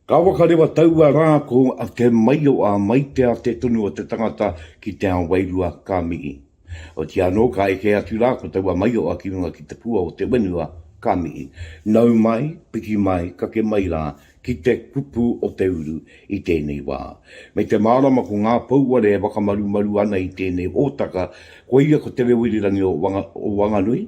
Ka whakarewa taua rā ko a Te Maioa mai te ate tonu o te tangata ki te ao wairua ka mihi. Otiia anō ka eke atu rā ko taua Maioa ki runga ki te pua o te wenua ka mihi. Nau mai, piki mai, kake mai rā ki te kupu o te uru i tēnei wā. Me te mārama ko ngā pouware e whakamarumaru ana i tēnei hōtaka, koia ko Te Reo Irirangi o Wanganui,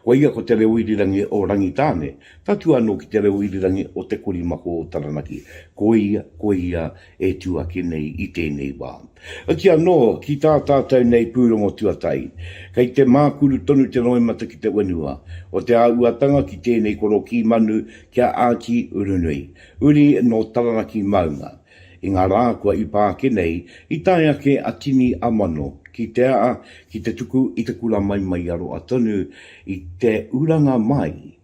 koia ko Te Reo Irirangi o Rangitāne, tatū anō ki Te Reo Irirangi o Te Korimako o Taranaki, koia, koia, e tū ake nei i tēnei wā. Hoki anō, ki tā tātou nei pūrongo tuatahi, kei te mākuru tonu te roimata ki te whenua o te āhuatanga ki tēnei korokī manu ki a Āti Urunui, uri nō Taranaki maunga. I ngā rā kua ipa ake nei, i tae ake a Tini Amano ki te aha, ki te tuku i te kura maimaiaroa tonu i te uranga mai,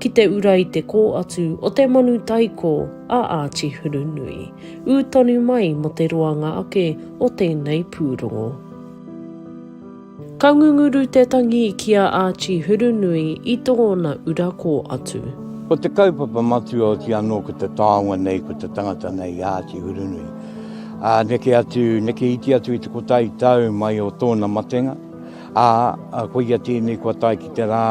ki te ura i te kō atu o te manu taikō a Āti Hurunui, ū tonu mai mō te roanga ake o tēnei pūrongo. Ka ngunguru te tangi ki a Āti Hurunui i tōna ura kō atu. Ko te kaupapa matua oti anō ko te taonga nei, ko te tangata nei i a Āti Hurunui. Ā, neke atu, neke iti atu i te kotahi tau mai o tōna matenga, ā, koia tēnei kua tae ki te rā,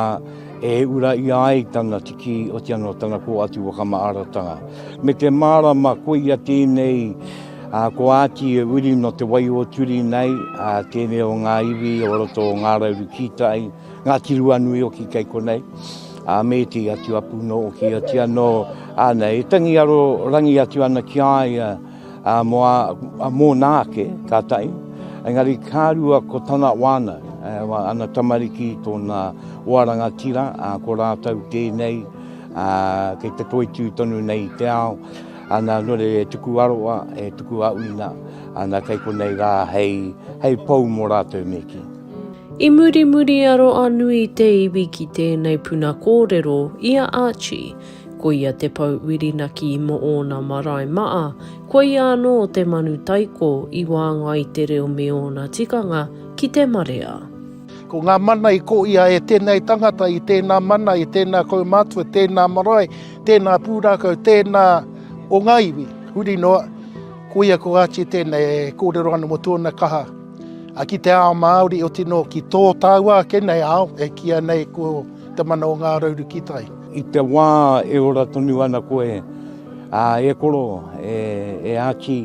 E ura ia ai tana tiki otia no tana ko atu whakamaaratanga. Me te marama koia tenei a ko ati e uri no te wai o turi nei a tenei o nga iwi o roto o nga rauru kitai, nga tiruanui oki kei konei, a me te atu apu no oki otia no ana e tangi aro rangi atu ana ki a ia. Ā, mō ā, mōna ake, tātai, engari ka rua ko tana wānau, ā, ana tamariki, tōna hoa rangatira, ā, ko rātou tēnei, ā, kei te toitū tonu nei i te ao, ana, nō reira e tuku aroa, e tuku auina, ana, kei konei rā hei, hei pou mō rātou me kī. I muri muri a Roa-nui te iwi ki tēnei puna kōrero i a Archie. Ko ia te pou Whirinaki mō ōna marae maa, ko ia anō te manu taiko i wānga i te reo me ōna tikanga ki te marea. Ko ngā mana i ko ia e tēnei tangata, i tēnā mana, i tēnā kaumātua, tēnā marae, tēnā pūrākau, tēnā o ngā iwi, huri noa, ko ia ko Archie tēnei e kōrero ana mō tōna kaha ki te ao Māori, otirā ki tō tāua ake nei ao e kīia nei ko. Te mana o ngā rauru ki tai. I te wā e ora tonu ana koe, ā, e koro, e, e Āti,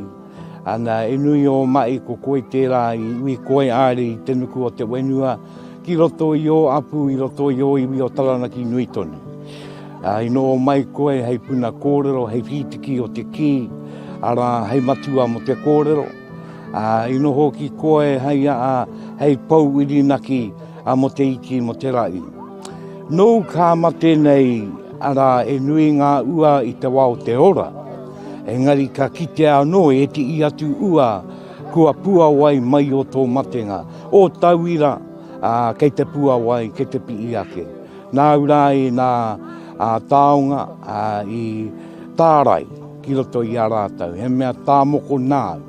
ana, e nui ō maʻi ko koe tērā i ui koe āere i te nuku o te whenua ki roto i ō apu i roto i ō iwi o Taranaki nui tonu. Ā, i noho mai koe hei puna kōrero, hei whītiki o te kī, arā, hei matua mō te kōrero. Ā, i noho ki koe hei aha, hei pou whirinaki a mo te iti mo te ra'i. Nou ka mate nei, ara e nui nga ua i te wa o te ora, engari ka kitea ano e tii atu ua kua puawai mai o to matenga, o tauira, a, kei te puawai, kei te pii ake. Nau ra i na a taonga, a, i tarai. Ki roto i a rātou, he mea tā moko nāu,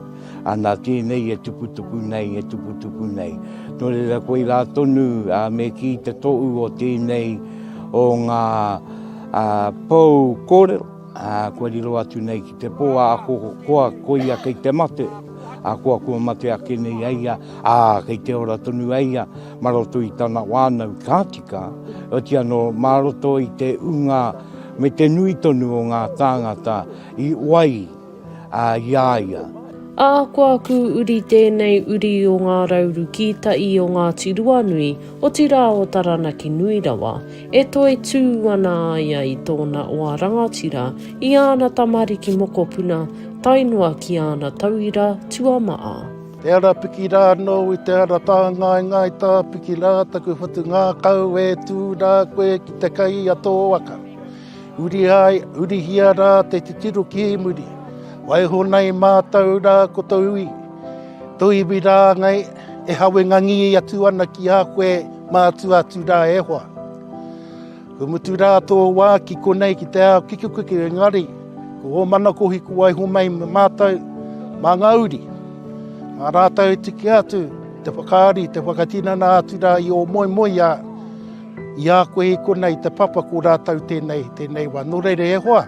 ana tēnei e tuputupu nei, e tuputupu nei. Nō reira koirā tonu me kī te tohu o tēnei o ngā pou kōrero, kua riro atu nei ki te pō ahakoa koia kei te mate, ahakoa kua mate ake nei a ia, ā, kei te ora tonu a ia. Mā roto i tana whānau ka tika, otirā anō mā roto i te ūnga me te nui tonu o ngā tāngata i wai i a ia. Ahakoa aku uri tēnei uri o ngā rauru kītai o Ngāti Ruanui, otirā o Taranaki nui rawa, e toitū ana a ia i tōna oa rangatira, i āna tamariki mokopuna, tae noa ki āna tauira tuamaha. Te ara piki rā anō i te ara tāngaengae tā piki rā taku whatu ngākau e tū rā koe ki te kai a tō waka. Uri ai, urihia rā te titiro ki muri, waiho nei mātou rā ko tō iwi, tō iwi rāngai e hawengangi atu ana ki a koe mātua atu rā e hoa. Kua mutu rā tō wā ki konei ki te ao kikikuki engari ko ō mana kohi kua waiho mai me mātou mā ngā uri. Mā rātou e tiki atu te whakaari, te whakatinana atu rā i ō moemoeā i a koe i konei te papa ko rātou tēnei, tēnei wā. Nō reira e hoa,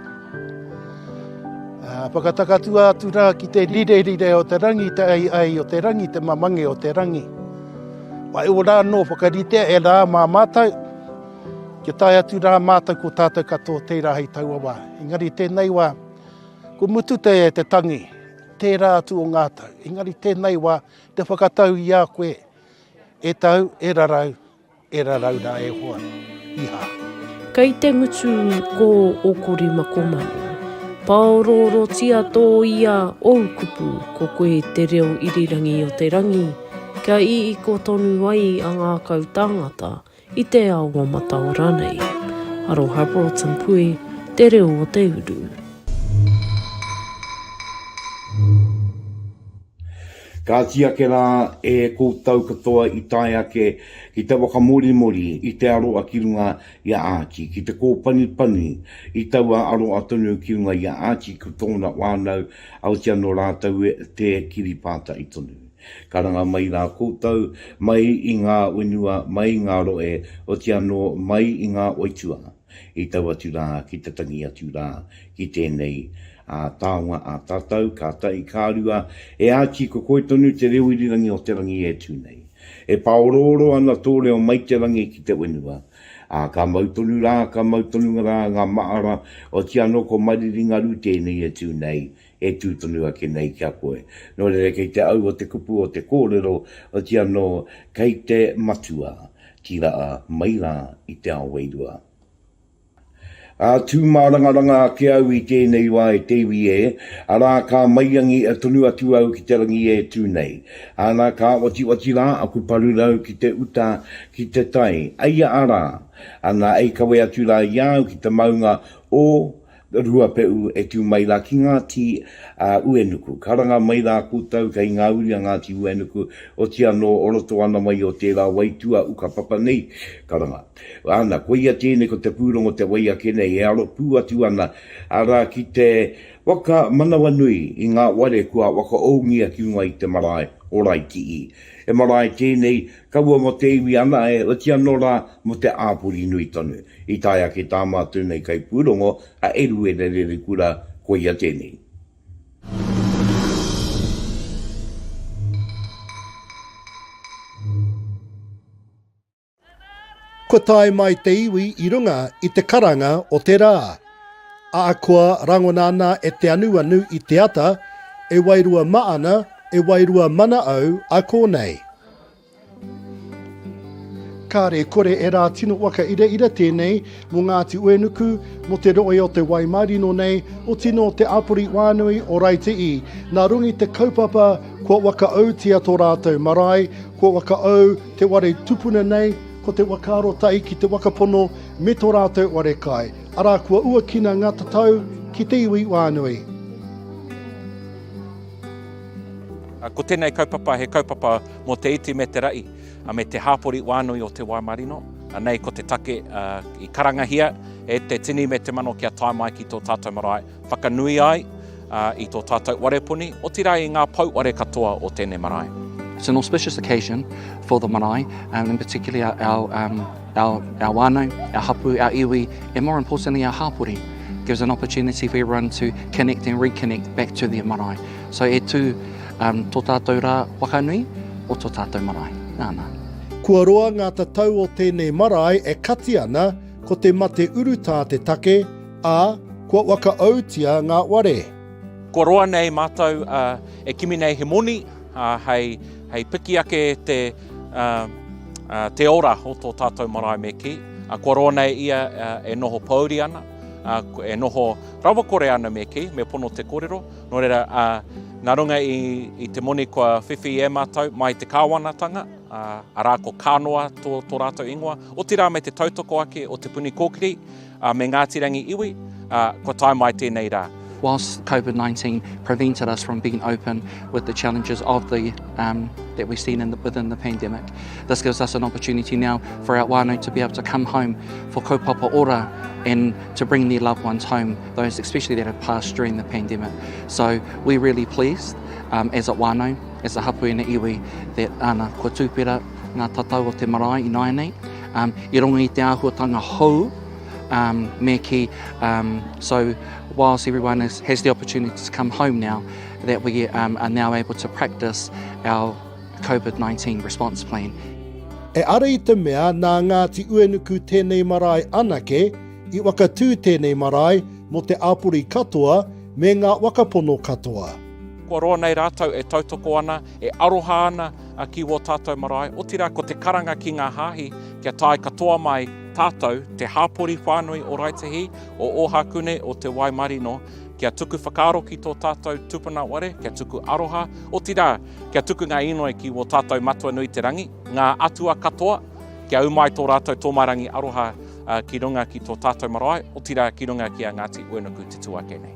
whakatakatua atu rā ki te rirerire o te rangi, te ai ai o te rangi, te mamange o te rangi. Wai ora anō whakaritea e rā mā mātou, Kia tae atu rā mātou ko tātou katoa tērā hei taua wā. Engari tēnei wā, ko mutu te te tangi, tērā atu o ngā tau. Engari tēnei wā, te whakatau i a koe, e tau, e rarau, e rarau rā e hoa. Iha. Kei te ngutu ko o kori mako manu. Paororotia to ia ou kupu, ko koe te reo irirangi o te rangi. Kia iiko tonu ai a ngākau tāngata i te ao o Mataora nei. Aroha Broughton Pui, Te Reo o te Uru. Kāti ake rā e koutou katoa i tae ake ki te whakamorimori i te aroa ki runga i a Āti, ki te kōpanipani i taua aroa tonu ki runga i a Āti ki tōna whānau, aoti anō rātou te kiri pātai tonu. Karanga mai rā koutou, mai i ngā whenua, mai i ngā rohe, oti anō, mai i ngā oitua, i tau atu rā ki te tangi atu rā ki tēnei taonga a tātou, ka tahi, ka rua, e Āti ko koe tonu te reo irirangi o te rangi e tū nei. E pāorooro ana tō reo mai te rangi ki te whenua, ā, ka mau tonu rā, ka mau tonu rā ngā mahara, oti anō ko Mariri Ngaru tēnei e tū nei, e tū tonu ake nei ki a koe. Nō reira, kei te aua te kupu o te kōrero, otirā anō, kei te Matua ki raa mai rā i te ao wairua. Ā, tū mārangaranga ake au i tēnei wā e te iwi ē, arā, ka maiangi tonu atu au ki te rangi e tū nei. Ana, ka otioti rā aku parurau ki te uta, ki te tai, eia arā, ana, ei kawe atu rā i a au ki te maunga o Ruapehu e tū mai rā ki Ngāti Uenuku. Karanga mai rā koutou kei ngā uri a Ngāti Uenuku, oti anō o roto ana mai o tērā waitua ukapapa nei, karanga. Ana, koia tēnei ko te pūrongo te wai ake nei e aro pū atu ana, arā, ki te whakamanawanui i ngā ware kua whakaoungia ki runga i te marae o Raikiī. He marae tēnei Kaua mo te iwi ana e oti ano ra mo te apori nui tonu. I tae ake tama atu nei kaipūrongo a Eruera Rerekura, koia tenei. Kua tae mai te iwi i runga i te karanga o te ra. Aakua rangona ana e te anuanu i te ata, e wairua maana, e wairua mana au a konei. Kāre, kore e rā tino waka iraira tēnei mō Ngāti Uenuku, mō te rohe o Te Waimarino nei, oti nō te āpori wānui o Raiti'i. Nā Rongi te kaupapa kua wakaautia tō rātou marae, kua wakaau te ware tupuna nei, ko te waka arotahi ki te waka pono me tō rātou ware kai, arā kua uakina ngā tatau ki te iwi wānui. Ko tēnei kaupapa he kaupapa mō te iti me te raʻi, me te hāpori wānui o te wā marino. Nei ko te take i karangahia e te tini me te mano kia tae mai ki tō tātou marae, whakanui ai i tō tātou warepuni, otirā i ngā pouware katoa o tēnei marae. It's an auspicious occasion for the marae and in particular our Our, our whānau, our hapu, our iwi, and more importantly our hāpori gives an opportunity for everyone to connect and reconnect back to their marae. So e tū um, tō tātou rā whakanui o tō tātou marae. Nāna. Kua roa ngā tatau o tēnei marae e kati ana, ko te mate urutā te take, ā, kua wakaautia ngā ware. Kua roa nei mātou uh, e kimi nei he moni, Hei, hei piki ake te, uh, te ora o tō tātou marae me kī, kua roa nei ia e noho pōuri ana, uh, e noho rawakore ana me kī, me pono te kōrero, nō reira, uh, nā runga i, i te moni kua whiwhi e mātou mai te kāwanatanga, uh, arā ko Kānoa tō, tō rātou ingoa, otirā me te tautoko ake o te puni kōkiri, Ā, me Ngāti Rangi iwi, ā, kua tae mai tēnei rā. Whilst Covid 19 prevented us from being open with the challenges of the um, that we've seen in the, within the pandemic, this gives us an opportunity now for our whānau to be able to come home for kaupapa ora and to bring their loved ones home, those especially that have passed during the pandemic. So we're really pleased um, as a whānau, as a hapu and a iwi, that ana, kua tūpera ngā tatau o te marae i nāianei, I runga i te āhuatanga hou me kī, so whilst everyone has the opportunity to come home now, that we are now able to practice our COVID-19 response plan. Eara i te mea nā Ngāti Uenuku tēnei marae anake i whakatū tēnei marae mō te āpori katoa me ngā wakapono katoa. Kua roa nei rātou e tautoko ana E aroha ana a ki wō tātou marae, otirā ko te karanga ki ngā hāhi kia tae katoa mai tātou, te hāpori whānui o Raetihi, o Ōhākune, o Te Wai Marino, kia tuku whakaaro ki tō tātou tupuna ware, kia tuku aroha, otirā, kia tuku ngā inoi ki wō tātou Matua nui te rangi, ngā atua katoa, kia ū mai tō rātou tōmairangi aroha ki runga ki tō tātou marae, otirā ki runga ki a Ngāti Uenuku te tū ake nei.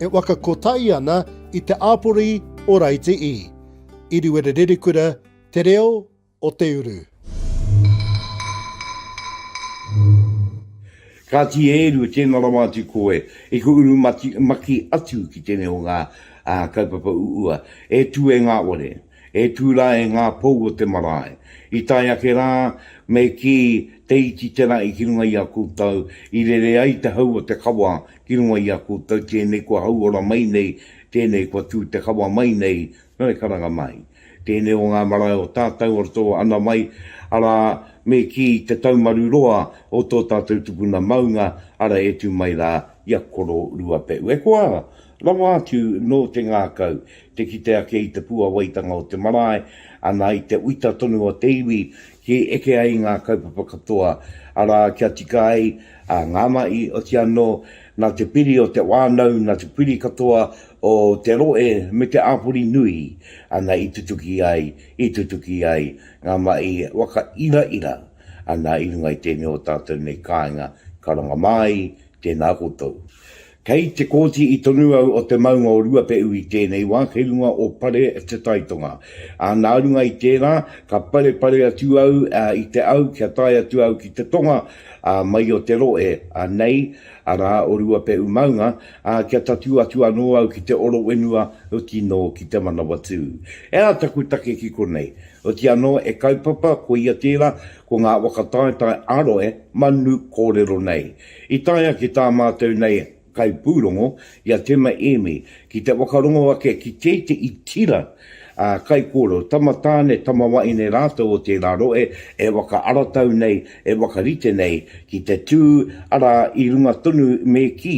E waka kotahi ana i te āpori o Raiti i. Iriwerererekura te reo o te uru. Kāti e Eru, tēnā rawa atu koe i ku uru maki atu ki tēnei o ngā kaupapa uua. E Tue Ngāware, E tū rā e ngā pou o te marae. I tae ake rā, me kī, Te iti te rahi ki runga i a koutou, i rere ai te hau o te kawa ki runga i a koutou, tēnei kua hauora mai nei, tēnei kua tū te kawa mai nei, nō e karanga mai. Tēnei o ngā marae o tātou, o tō ana wai, arā, me kī, te taumaru roa o tō tātou tupuna maunga, ara e tū mai rā i a Koro Ruapehu. E koa, Rawa atu nō te ngākau te kite ake i te puawaitanga o te marae, ana i te uita tonu o te iwi ki eke ai ngā kaupapa katoa, arā, kia tika ai ngā mahi, oti anō, nā te piri o te whānau, nā te piri katoa o te rohe me te āpori nui, ana i tutuki ai, i tutuki ai ngā mahi waka iraira, ana i runga i tēnei o tātou nei kāinga karanga māi, tēnā koutou. Kei te kōti i tonu au o te maunga o Ruapehu i tēnei wā kei runga o Pare te Tai Tonga. Ā, nā runga i tērā, ka parepare atu au i te au kia tae atu au ki te tonga, ā, mai o te rohe, ā, nei, arā, o Ruapehu maunga, ā, kia tatū atu anō au ki te oro whenua, oti anō ki te Manawatū. Ea taku take ki konei. Oti anō e kaupapa, koia tērā, ko ngā waka taetae ā-rohe manu kōrero nei. I tae ake tā mātou nei kaipūrongo i a Tema Emi ki te whakarongo ake ki tētehi tira ā kaikōrero, tama tāne, tama waeine rātou o tērā rohe e whakaaratau nei, e whakarite nei ki te tū, arā, i runga tonu me kī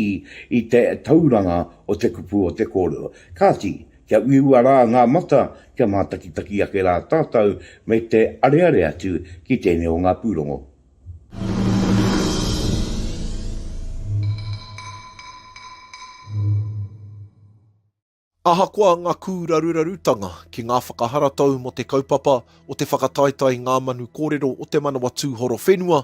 i te tauranga o te kupu o te kōrero. Kāti, kia uiua rā ngā mata, kia mātakitaki ake rā tātou me te areare atu ki tēnei o ngā pūrongo. Ahakoa ngā kūrarurarutanga ki ngā whakaharatau mō te kaupapa o te whakataetae i ngā manu kōrero o Te Manawa Tūhoro Whenua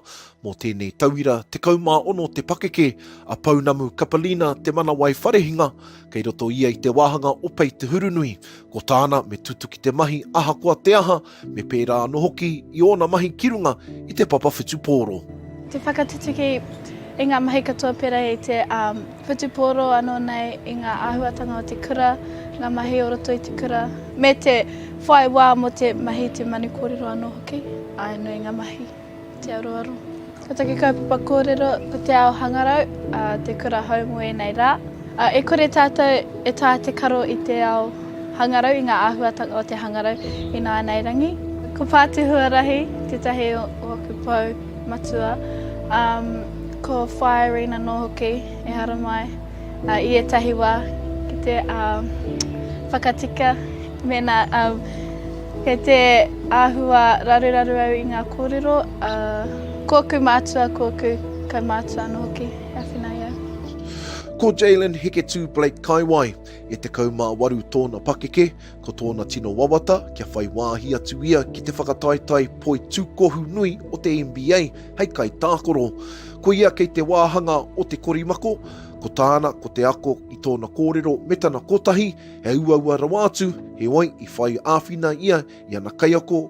mō tēnei tauira, 16 te pakeke a Pounamu Kapelina Te Manawai Wharehinga, kei roto ia i te wāhanga o Pei Te Hurunui. Ko tāna, me tutuki te mahi ahakoa te aha, me pērā anō hoki i ōna mahi ki runga i te papa whutupōro. Te whakatutuki i ngā mahi katoa pērā i te whutupōro anō nei i ngā āhuatanga o te kura, ngā mahi o roto i te kura, me te whai wā mō te mahi i te manu kōrero anō hoki, āe noa i ngā mahi. Te aroaro. Ko taku kaupapa kōrero ko te ao hangarau, ā, te kura hou mō ēnei rā. Ā, e kore tātou e tā te karo i te ao hangarau, i ngā āhuatanga o te hangarau i nāianei rangi. Ko Pāti Huarahi tētahi o aku pou matua, ā, ko Whaea Rina nō hoki, ehara mai. I ētahi wā, ki te whakatika mēnā kei te āhua raruraru au i ngā kōrero, kōku mātua, kōku kaumātua anō hoki e awhina ai au. Ko Jaylen Hiketū Blake Kaiwai, e 18 tōna pakeke, Ko tōna tino wawata, kia whai wāhi atu ia ki te whakataetae poitūkohu nui o te NBA hei kaitākoro. Ko ia kei te wāhanga o te korimako, ko tāna ko te ako i tōna kōrero me tana kotahi, he uaua rawa atu, heoi i whai āwhina ia i ana kaiako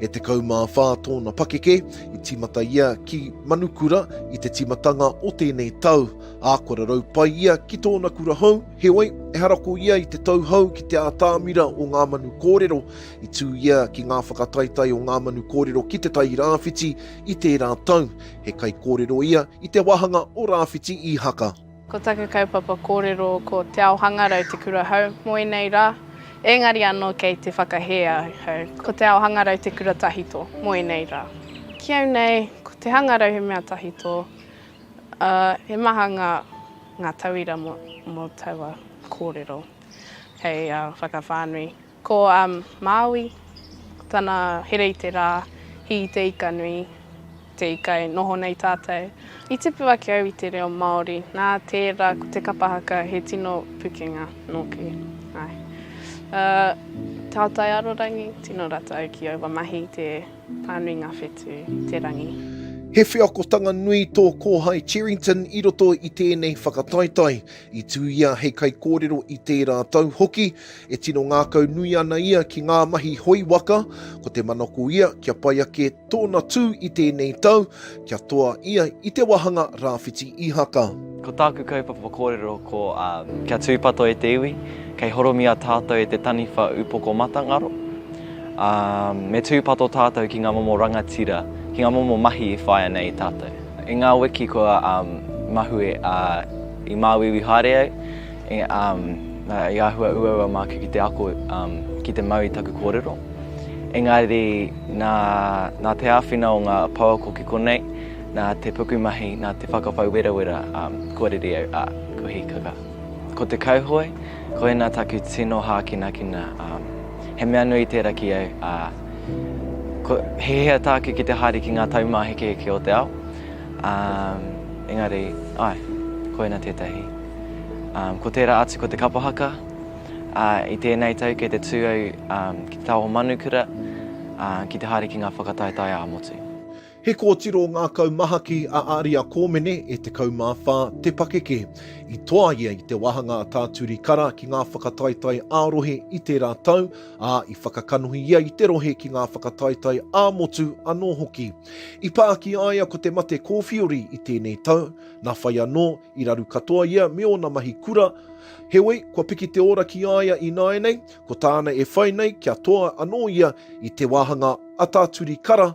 E 14 tōna pakeke, i tīmata ia ki Manukura i te tīmatanga o tēnei tau, ā, kua rarau pai ia ki tōna kura hou, heoi, ehara ko ia i te tau hou ki te ātamira o ngā manu kōrero, i tū ia ki ngā whakataetae o ngā manu kōrero ki Te Tai Rāwhiti i tērā tau, he kaikōrero ia i te wāhanga o Rāwhiti Īhaka. Ko taku kaupapa kōrero ko Te Ao Hangarau te kura hou mō ēnei rā, ēngari anō kei te whakahē ahau ko Te Ao Hangarau te kura tahito mō ēnei rā. Ki au nei, ko te hangarau he mea tahito, ā, he maha ngā, ngā tauira mō, mō taua kōrero hei whakawhānui. Ko Māui, ko tana here i te rā, hī te ika nui, te ika e noho nei tātou. I tipu ake au i te reo Māori, nā tērā ko te kapa haka he tino pukenga nōku. Āe. Ā, tātai arorangi, tino ratou ki aua mahi i te pānui ngā whetū, te rangi. He wheakotanga nui tō kōhai Cherrington i roto i tēnei whakataetae. I tū ia hei kaikōrero i tērā tau hoki, e tino ngākau nui ana ia ki ngā mahi hoi waka, ko te manako ia kia pai ake tōna tū i tēnei tau, kia toa ia i te wāhanga rāwhiti Ihaka. Ko tāku kaupapa kōrero ko kia tūpato e te iwi, kei horomia tātou e te taniwha upoko matangaro, ā, me tūpato tātou ki ngā momo rangatira, ki ngā momo mahi i whaia nei i tātou. I ngā wiki kua mahue i māuiui haere au, i āhua uaua māku ki te ako ki te mau i taku kōrero. Engari nā te āwhina o ngā pouako ki konei, nā te pukumahi, nā te whakapau werawera kua rere au, ā, kua hīkaka. Ko te kauhoe, koinā taku tino hākinakina, he mea nui tērā ki au, ā, Ko, he hea tāke ki te haere ki ngā taumāhekeheke o te ao. Um, engari, ai, koina tētahi. Um, ko tērā atu ko te kapa haka. Uh, I tēnei tau kei te tū au um, ki te taoho manukura, uh, ki te haere ki ngā whakataetae ā-motu. He kōtiro ngākau mahaki a Aria Kōmene e 14 te pakeke. I toa ia i te wāhanga a Tā Turi Kara ki ngā whakataetae ā-rohe i tērā tau, ā, i whakakanohi ia i te rohe ki ngā whakataetae ā-motu anō hoki. I pā ki a ia ko te mate kōwhiori i tēnei tau, nā whai anō, i raru katoa ia me ōna mahi kura, heoi, kua piki te ora ki a ia ināianei, ko tāna e whai nei kia toa anō ia i te wāhanga a Tā Turi Kara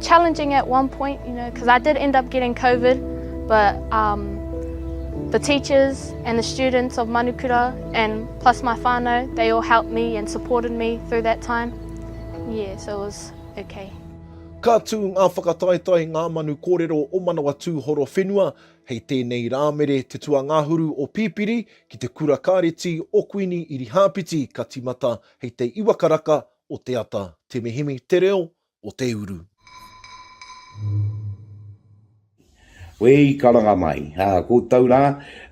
challenging at one point, you know, cause I did end up getting Covid, but um the teachers and the students of Manukura and plus my whanau, they all helped me and supported me through that time. Yeah, so it was okay. Ka tū ngā whakataetae, ngā manu kōrero o Manawatūhoro whenua, hei tēnei Rāmere te tuangahuru o Pipiri ki te kura kāreti o Kuini Irihāpiti ka timata hei te iwa karaka o te ata Te Mihimi te reo o te uru. Koe i karanga mai, ā, koutou rā,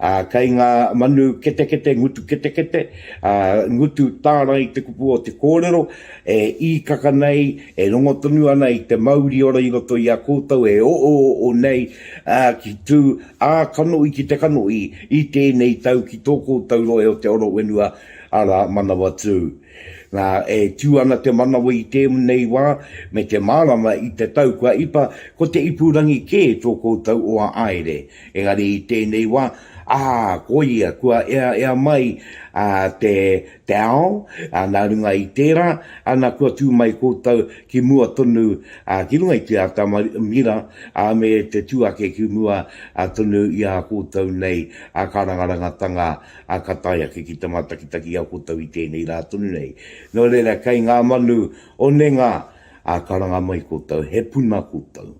ā, kei ngā manu ketekete, ngutu ketekete, ā, ngutu tārai te kupu o te kōrero, e īkaka nei, e rongo tonu ana i te mauri ora i roto i a koutou e oooo nei, ā, ki tū ā kanohi ki te kanohi i tēnei tau ki tō koutou rohe o te oro whenua, arā, Manawatū. Nā, e tū ana te manawa i tēnei wā, me te mārama i te tau kua ipa, ko te ipurangi kē tō koutou o a Aere. Engari i tēnei wā, ā, koia, kua eaea mai te, te ao, ā, nā runga i tērā, ana, kua tū mai koutou ki mua tonu, ā, ki runga i te ata mira, ā, me te tū ake ki mua tonu i a koutou nei, ā, kārangarangatanga, Ā, ka tae ake ki te mātakitaki i a koutou i tēnei rā tonu nei. Nō reira, kei ngā manu o Nenga, ā, karanga mai koutou, he puna koutou.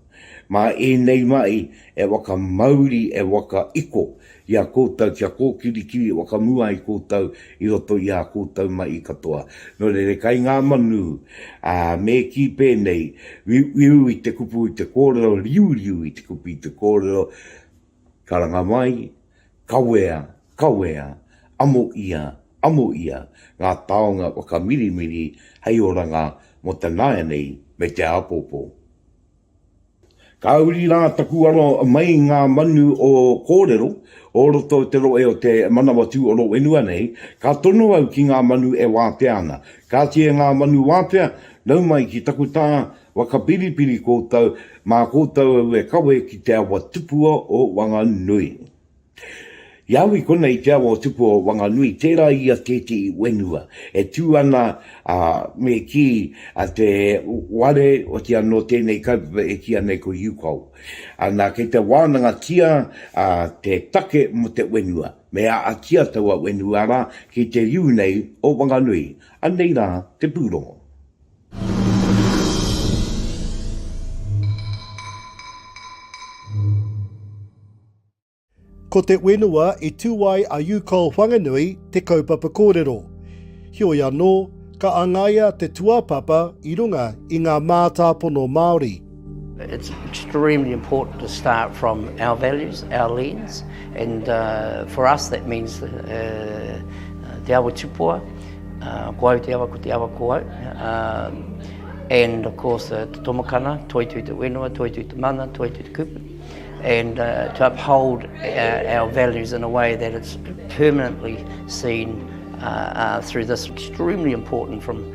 Mā ēnei mahi e whakamauri, e whakaiko i a koutou kia kōkirikiri whakamua ai koutou i roto i ā koutou mahi katoa. Nō reira, kei ngā manu, ā, me kī pēnei, Wiuwiu i te kupu i te kōrero, riuriu i te kupu i te kōrero, Karanga mai, Kawea, kawea, amo ia, amo ia ngā taonga whakamirimiri hei oranga mō te nāianei me te āpōpō. Ka uri rā taku aro mai ngā manu o kōrero o roto o te rohe o Te Manawatū o Rōwhenua nei, ka tono au ki ngā manu e wātea ana. Kāti e ngā manu wātea, nau mai ki taku tā, Whakapiripiri koutou mā koutou au e kawe ki te awa tupua o Wanganui. I au i konei i te awa o tupua o Wanganui, tērā i a tētehi whenua e tū ana, ā, me kī a te ware, otiā nō tēnei kaupapa e kīa nei ko Yukao. Ana, kei te wānangatia te take mō te whenua, me ātia taua whenua rā ki te riu nei o Wanganui. Anei rā te pūrongo. Ko te whenua i tū ai a Yukol Whanganui te kaupapa kōrero. Heoi anō, ka angaia te tuāpapa i runga i ngā mātāpono Māori. It's extremely important to start from our values, our lens, and uh, for us that means uh, uh Te Awa Tupua, uh, ko au te awa, ko te awa ko au. Uh, and of course uh, Te Tomakana, Toi Tui Te Whenua, Toi Tui Te Mana, Toi Tui Te Kupu. And uh, to uphold our, uh, our values in a way that it's permanently seen uh, uh, through this extremely important from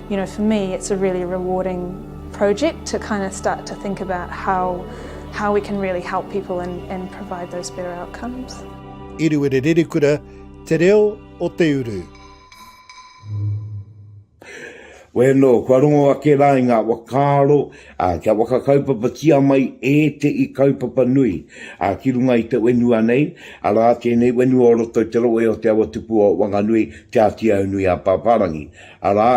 You know for me it's a really rewarding project to kind of start to think about how how we can really help people and and provide those better outcomes. Iriwiri Ririkura, Te Reo o Te Uru. Wēnō, kua rongo ake rā i ngā wakaaro a, kia whakakaupapatia mai e te i kaupapa nui a, ki runga i te wenua nei, arā tēnei wenua o roto i te rohe o Te Awatupu o Wanganui, Te Ātiaunui a Pāpārangi. Arā,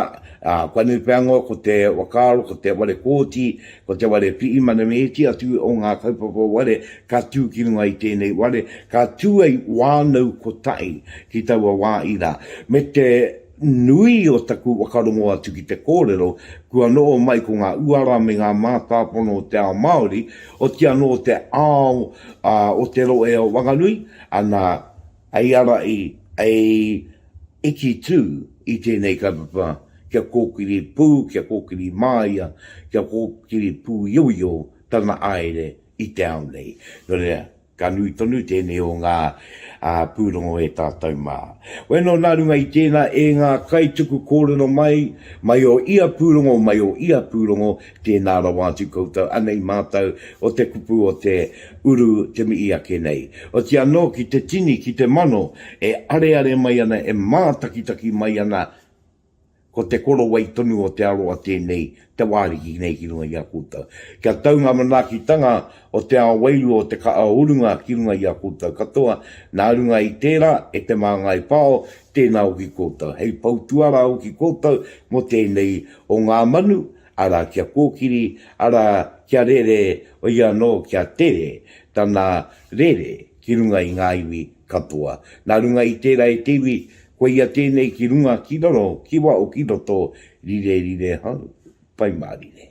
kua nui pea noa ko te whakaaro, ko te ware kōti, ko te ware pihi manamēti atu o ngā kaupapa ware ka tū ki runga i tēnei ware, ka tuei wānau kotahi ki taua wā ira. Me te nui o taku whakarongo atu ki te kōrero, kua noho mai ko ngā uara me ngā mātāpono o te ao Māori, oti anō te ao o te rohe o Wanganui, ana, Hei ara i, hei iti tū i tēnei kaupapa kia kōkiri pū, kia kōkiri māia, kia kōkiri pūioio tana āere i te ao nei. Nō reira, ka nui tonu tēnei o ngā pūrongo e tātou mā. Weno nā runga i tēnā e ngā kaituku kōrero mai, mai o ia pūrongo, mai o ia pūrongo, Tēnā rawa atu koutou anei mātou o te kupu o te uru te mihi ake nei. Otia anō ki te tini, ki te mano e areare mai ana, e mātakitaki mai ana, ko te korowai tonu o te aroa tēnei te wā ariki nei ki runga i a koutou. Kia tau ngā manaakitanga o te ao wairua, o te kaha o runga ki runga i a koutou katoa, nā runga i tērā, e Te Māngai Pao, tēnā hoki koutou. Hei pou tuarā hoki koutou mō tēnei O ngā manu, arā kia kōkiri, arā kia rere i anō kia tere tana rere ki runga i ngā iwi katoa. Nā runga i tērā e te iwi, ko ia tēnei ki runga ki raro, ki waho ki roto, rire rire hau, pai mārire.